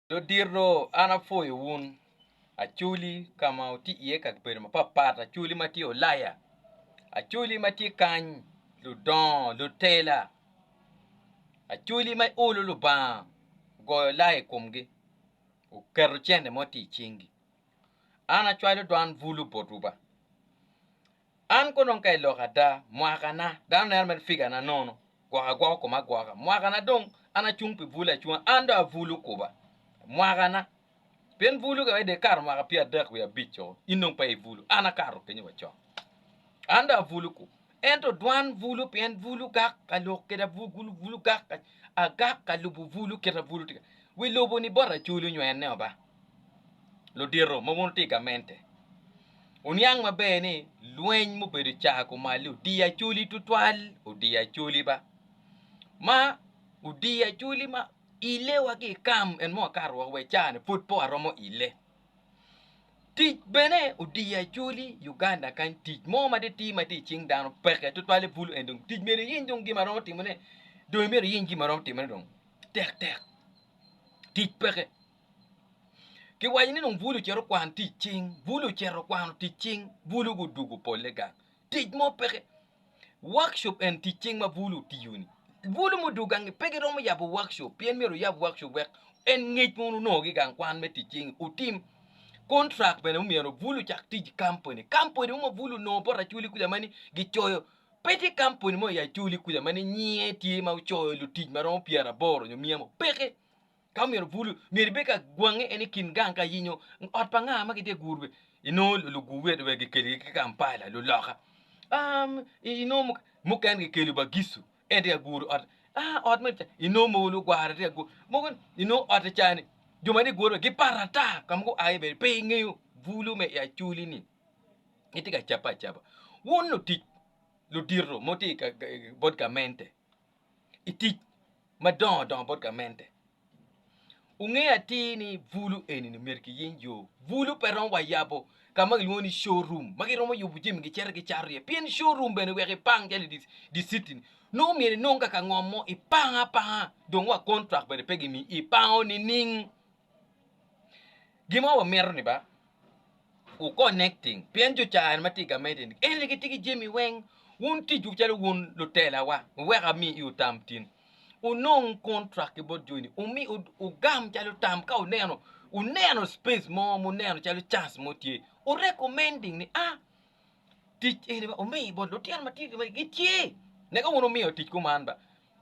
Dodito an apwoyo wun. Acholi ka ma wutye iye ka bedo mapatpat, acholi ma tye Ulaya, acholi ma tye kany, ludongo, lutela, acholi ma iolo Lubanga ogoyo lai i komgi, oketo cente mo tye i cingi. An acwalo dwan bulu botwu ba. An konong ka i lok ada, mwakana, dano neno mere figana nono, gwoko agwoka koma agwoka. Mwakana dong an acung pi bwul acunga, an dong abwulu kuba. Mwakana, pien bwulu ka wede ikato mwaka pyer adek wiye abic-co, in dong pe ibwulu, an akato kenyo wacok. An dong abwulu kuba. Ento dwan bwulu pien bwulu gak ka lok kede abwulu, bwulu gak ka, agak ka lubo bwulu kit ma bwulu tye ka, wi lobo-ni bot aculu nywene oba. ludito ma wun wutye i gamente, wuniang maber ni lweny mubedo caa kumalli odiyo acholi tutwal, odiyo acholi ba, ma odiyo acholi ma ile wa ki i kam en mong akato woko wa i caa-ni pud pe waromo ile. Tic bene odiyo acholi i Uganda kany tic mo ma tye atir ma tye i cing dano peke tutwale bulu en dong tic myero iyiny dong gin ma iromo timone, dong imyero iyiny gin ma iromo timone dong tektek, tic peke. Kiwaco ni dong bulu ocito kwano tic cing, bulu ocito kwano tic cing, bulu gudugo polle gang. Tic mo peke. Workshop en tic cing ma bulu otiyo-ni. Bulu mudugo gang-ngi pe giromo yabo workshop pien myero wuyab workshop wek en ngec ma wun wunongo-gi gang kwan me tic cing-ngi wutim. Kontrak bene omyero bulu ocak tic i kampuni. Kampuni mo ma bulu onongo bot Acholi kuca ma ni gicoyo, pe tye kampuni mo i Acholi kuca ma ni nyinge tye ma ocoyo lutic ma romo pyeraboro nyo mia mo, peke. Ka omyero bulu, myero ibed ka gwange en i kin gang ka yenyo ot pa nga ma gitye guru be inongo lugu wet wek gikelgi ki Kampala luloka um inongo mukene gikelo Bagisu en tye ka guru ot ah ot me inongo mogo lugwara tye ka guru mogo inongo ot cani jo ma tye guru gipat ata ka ma gua iye bene pe ingeyo bulu me i Acholi ni gitye ka cabbe acaba wun lutic ludito ma wutye i bot gamente i tic madongo dongo bot gamente. Wungeyo atir ni bulu eni myero kiyiny yo. Bulu pe romo wa yabo ka ma kilwongo ni show room ma giromo yubo jami gicito gicato iye pien show room bene wek ipang calo i dicity-ni nongo myero inong ka ka ngom mo ipang apanga dong wa contract bene pe gimiyi ipango nining? Gin ma wamito ni ba wu connecting pien jo cani ma tye i gamente ni en aye gitye ki jami weng wun tic wu calo wun lutela wa wek ami iwu tam tin wunong contract ki bot joni wumi wugam calo tam ka wuneno wuneno space mo ma wuneno calo chance mo tye wu recommending ni a tic eni ba wumi bot lutino ma tye kama gitye neka wun wumiyo tic kuman ba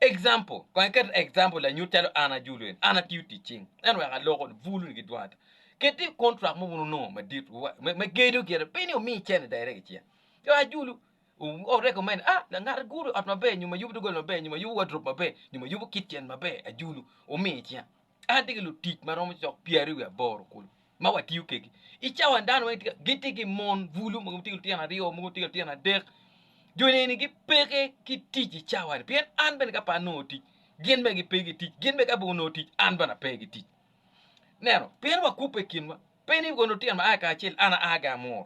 Example, Kong iket example lanyut calo an ajulu en, an atiyo tic cing, ento wek aloko ni, bulu ni ki dwong ata. Ket i contract mo wun wunongo madit, wa- me, me gedo gire, pe ni omiyi cene direct i cinge. Jo ajulu, o, o recommend, ah, la- ngat aguru ot maber, nyo ma yubu doggola maber, nyo ma yubu wardrobe maber, nyo ma yubu kitchen maber, ajulu, omiyo i cinga. An tye ki lutic ma romo cok pyeraryo wiye aboro kulu ma watiyo kwedgi. I cawan dano weng gitye ki mon bulu, mogo gitye ki lutino aryo, mogo gitye ki lutino adek. Jo neni gipeke ki tic i cawani pien an bene ka pe anongo tic gin bene gipe ki tic, gin bene ka gunongo tic an bene ape ki tic. Ineno, pien wakubbe i kinwa, pe ni kono lutino ma aa kacel an aa ki amuru.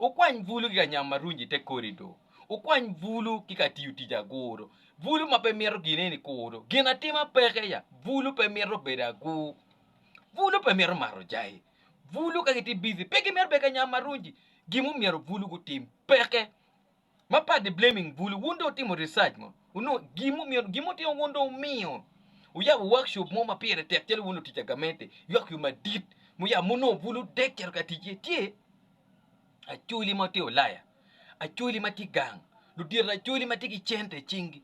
Wukwany bulu ki ka nyam ma runyo i te korido. Wukwany bulu ki ka tiyo tic aguru. Bulu ma pe mito gin eni kuru. Gin atima peke ya. Bulu pe mito bedo agur. Bulu pe mito mato jai. Bulu ka gitye bizi pe gimito bedo ka nyam ma runyi. Gin mumyero bulu gutim peke. ma part the blaming bulu wun dong wutimo research mo wunongo gin mumyeno gin mutimo wun dong wumiyo wuyabo workshop mo ma pire tek calo wun lutic agamente ywak yo madit muyabo munongo bulu dek cito ka ticce tye acoli ma tye ulaya acoli ma tye gang ludito acoli ma tye ki cente i cingi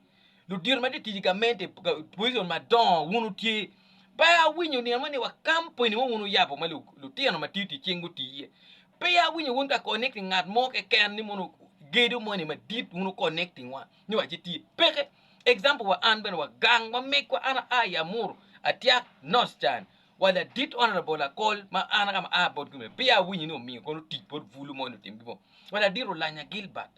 ludito ma tye tic i gamente position madongo wun wutye pe awinyo nino moni wa company mo wun wuyabo ma lu- lutino ma tiyo tic cing guti iye Pe awinyo wun ka connecting ngat mo keken ni mono gedo moni madit wun wu connecting wa ni wa ci tye. Peke. Example wa an bene wa gang wa megwa an aa i Amuru atyak North can wa ladit Honourable Akol ma an ka ma aa botgi mere peya awinyo ni omiyo kono tic bot bulu moni otim gimo wa ladit Olanya Gilbert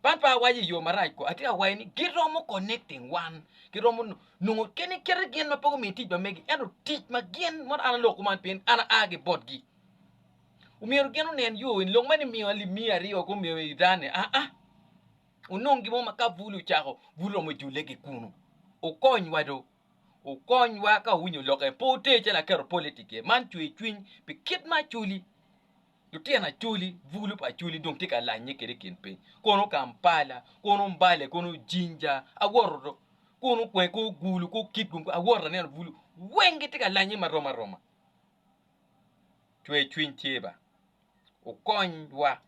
Papa awaco i yo marac ko, atye ka waco ni giromo connecting wan, giromo nongo kene kite gin ma pe gumiyo tic pa megi, ento tic ma gin mono an aloko man pien an aa ki botgi. Omyero gin onen yo eni, lok ma ni miyo alip miya aryo wek omeyo i iran-ni aa, onong gin mo ma ka bul ocako, bul romo jule ki kunu. Okonywa do, okonywa ka owinyo lok eni, pe oter calo aketo politic iye, man cwer cwiny pi kit ma acoli. Lutino Acholi, Bulu pa Acholi dong tye ka lanye kede i kin piny, kono Kampala, kono Mbale, kono Jinja, awoto do, kono Kwee, kono Gulu, kono Kitgum, awoto aneno Bulu weng gitye ka lanye ma rom aroma. Cwer cwiny tye ba, wukonywa,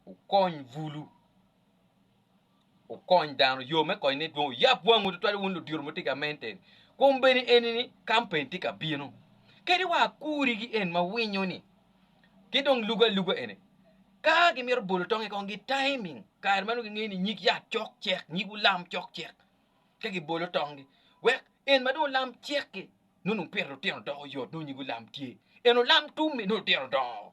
wukony Bulu. Wukony dano yo me konyo ni dwong oyab wangwu tutwal wun ludiro ma wutye ka mente ni kombeddi eni ni kampen tye ka bino kadi wa akuri gi en ma winyo ni ki dong lugo aluga eni ka gi mito bolo tong i kong gi timing kare ma nongo gi ngeyo ni nyig yat cok cek nyig wulam cok cek ka gi bolo tong gi wek en ma dong olam cek ki nongo pire lutino doko yot nongo nyig wulam tye en olam tum mi nongo lutino dongo.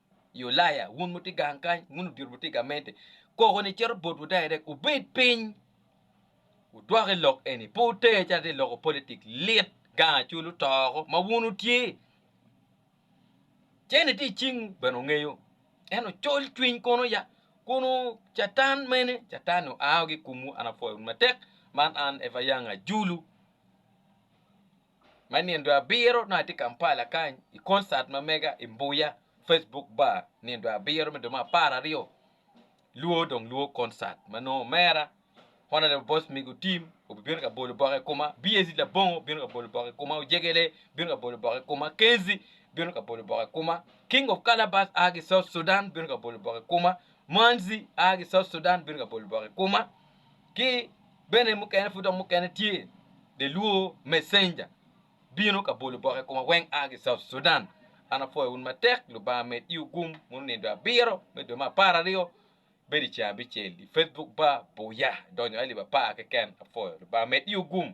I Ulaya, wun wutye gang kany, wun odito wutye i gamente, koko ni cito botwu direct wubed piny wudwok i lok eni, pe wuter calo tye loko politic lit gang acol otoko ma wun wutye. Cene tye i cingwu bene wungeyo, ento col cwiny kono ya, kun catan mene, catan ni oa woko i komwu, an apwoyo wun matek, man an Eva Young Ajulu. ma nindo abiro nongo atye Kampala kany i concert ma mega i Mbuya Facebook bar nindo abiro me dong me apar aryo lwo dong lwo concert ma nongo omera Honourable Boss Migo Tim obibino ka bolo bok i koma, BAC Labongo bino ka bolo bok i koma, Ojegele bino ka bolo bok i koma, Kenzi bino ka bolo bok i koma, King of Calabash a ki South Sudan bino ka bolo bok i koma, Manzi a ki South Sudan bino ka bolo bok i koma, Ki bene mukene pud dok mukene tye the luo messenger bino ka bolo oboke ikoma weng aa ki south Sudan an apwoyo wun matek lubanga med iwu gum mono nindo abiro me dwe me apar aryo bedo iceng abicel i Facebook bar buya idonyo alip apar keken apwoyo lubanga med iwu gum.